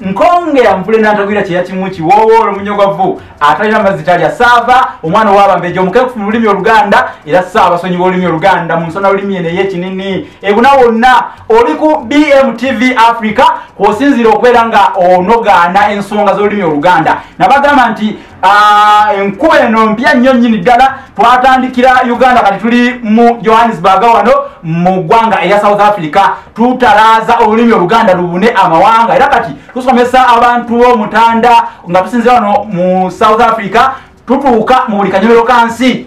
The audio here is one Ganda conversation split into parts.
nkonge amvule nantagwira kyeyakimuki wowoolo munyogovu atalina mazzi talya saava omwana owabambeja omukekufu mu lulimi oluganda era saava sonyi wolulimi oluganda mu nsona lulimi eno eyekinini ebuna wonna oli ku bmtv africa kwosinzira okubeera nga onogaana ensonga z'olulimi oluganda nabagamba nti Ah, enkuba eno mpya nnyo nnyini ddala twatandikira uganda kati tuli mu johannesburg wano mu ggwanga erya south africa tutalaaza olulimi oluganda lubune amawanga era kati tusomesa abantu b'omutanda nga tusinzira wano mu south africa tutuuka mu buli kanyomero ka nsi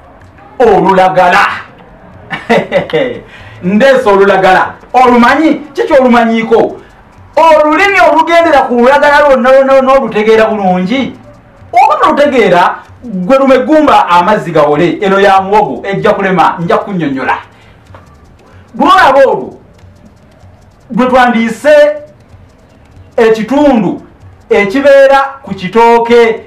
olulagala ndeesa olulagala olumanyi kiki olumanyiiko olulimi olugendera ku lulagala lwonna lwonna lwonna olutegeera bulungi oba nolutegeera gwe lume gumba amazzi gawole eno ya muwogo ejja kulema nja kunyonyola lwolaba olwo gwe twandiise ekitundu ekibeera ku kitooke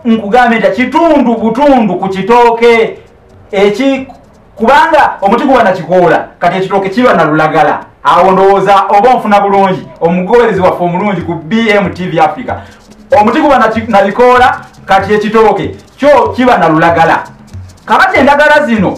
nkugambye nti kitundu butundu ku kitooke eki kubanga omuti guba nakikoola kati ekitooke kiba nalulagala awo ndowooza oba onfuna bulungi omugoberezi waffe omulungi ku bmtv africa omuti guba nabikoola kati ekitooke kyo kiba nalulagala kabati endagala zino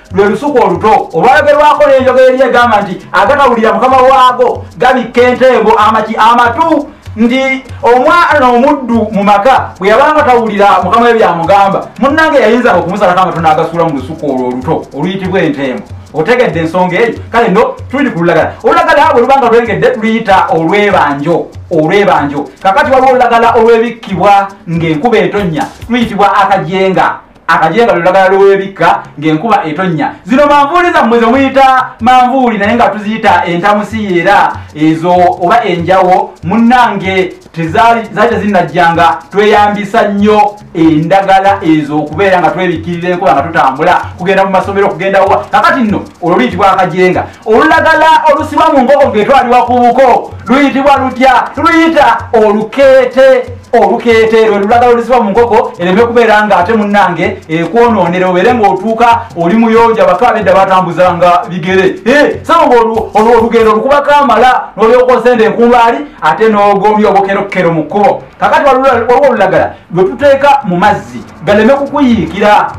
lwe lusuku oluto olwalogerwako n'enjogera eri egamba nti agatawulira mukama waago gabikka entengo amaki amatu nti omwana omuddu mu maka bwe yabanga tawulira mukama we byamugamba munnange yayinzanga okumusalako amatu n'agasuula mu lusuku olwo oluto oluyitibwa entengo otegedde ensonga eyo kale no tuli ku lulagala olulagala bwe lubanga lwengedde tuluyita olwebanjo olwebanjo kakati waliwo olulagala olwebikkibwa ng'enkuba etonnya luyitibwa akajenga akajeebali olagala lw'ebikka ng'enkuba etonnya zino manvuuli zammwe zemuyita manvuuli naye nga tuziyita entamusiyeera ezo oba enjawo munnange tezaali tezinnajjanga tweyambisa nnyo endagala ezo okubeera nga twebikkirira enkuba nga tutambula kugenda mu masomero okugendawa kakati nno olwo luyitibwa akajenga olulagala olusibwa mu nkoko ngetwaliwa ku buko luyitibwa lutya luyita olukeete olukeete lwe lulagala olusibwa mu nkoko ereme kubeera nga ate munnange ekwonoonera obeere ngaotuuka oli muyonja baka abedda batambuzanga bigere saba nga olugendo olukubako amala nolyokoosenda enkumbaali ate n'ogomya obukerokero mu kkubo kakati waliwo olulagala lwe tuteeka mu mazzi galeme kukuyiikira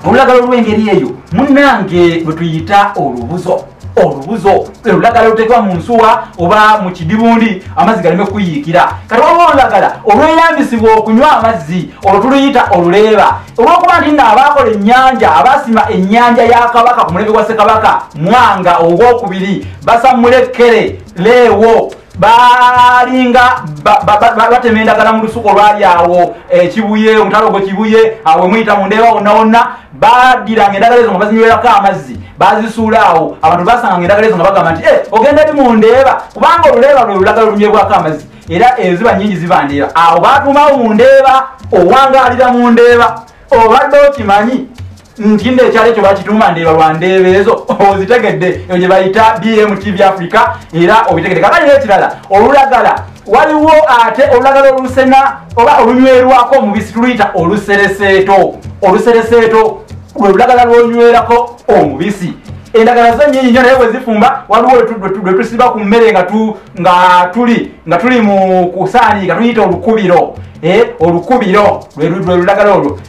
olulagala olw'engeri eyo munange bwe tuyita olubuzo olubuzo olulagala oluteekwa mu nsuwa oba mu kidibundi amazzi galeme kukuyiikira kati waliwo olulagala olweyambisibwa okunywa amazzi olwo tuluyita oluleeba olwokuba nti nga abaakola ennyanja abaasima ennyanja ya kabaka ku mulembe gwa ssekabaka mwanga ogwokubiri basammula ekkere leewo baalinga batema endagala mu lusuku olwali awo ekibuye eh, omutalo gwe kibuye awo emuyita mu ndeeba wonna wonna badiranga endagala ezo nga bazinywerako amazzi bazisuula awo abantu basanganga endagala ezo nga bagamba nti eh, ogenda eri mu ndeeba kubanga oluleeba lwe lulagala olunywebwako amazzi era eziba eh, nyingi ziba ndeeba awo batumawo mu ndeeba owangaalira mu ndeeba obadde okimanyi ntinda ekyalo ekyo bakituuma ndeeba lwa ndeeba ezo ozitegedde eyo gye bayita bmtv africa era obitegedde kakati n'ekirala olulagala waliwo ate olulagala olusena oba olunywerwako omubisi tuluyita olusereseeto olusereseeto lwe lulagala lwonywerako omubisi endagala zo nyinyi nyo naye bwezifumba waliwo lwe tusiba ku mmere nga tuli nga tuli mu kusaaniika tuyita olukubiro eh, olukubiro lwe lulagala olwo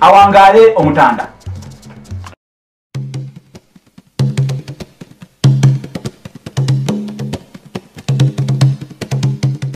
awangaale omutanda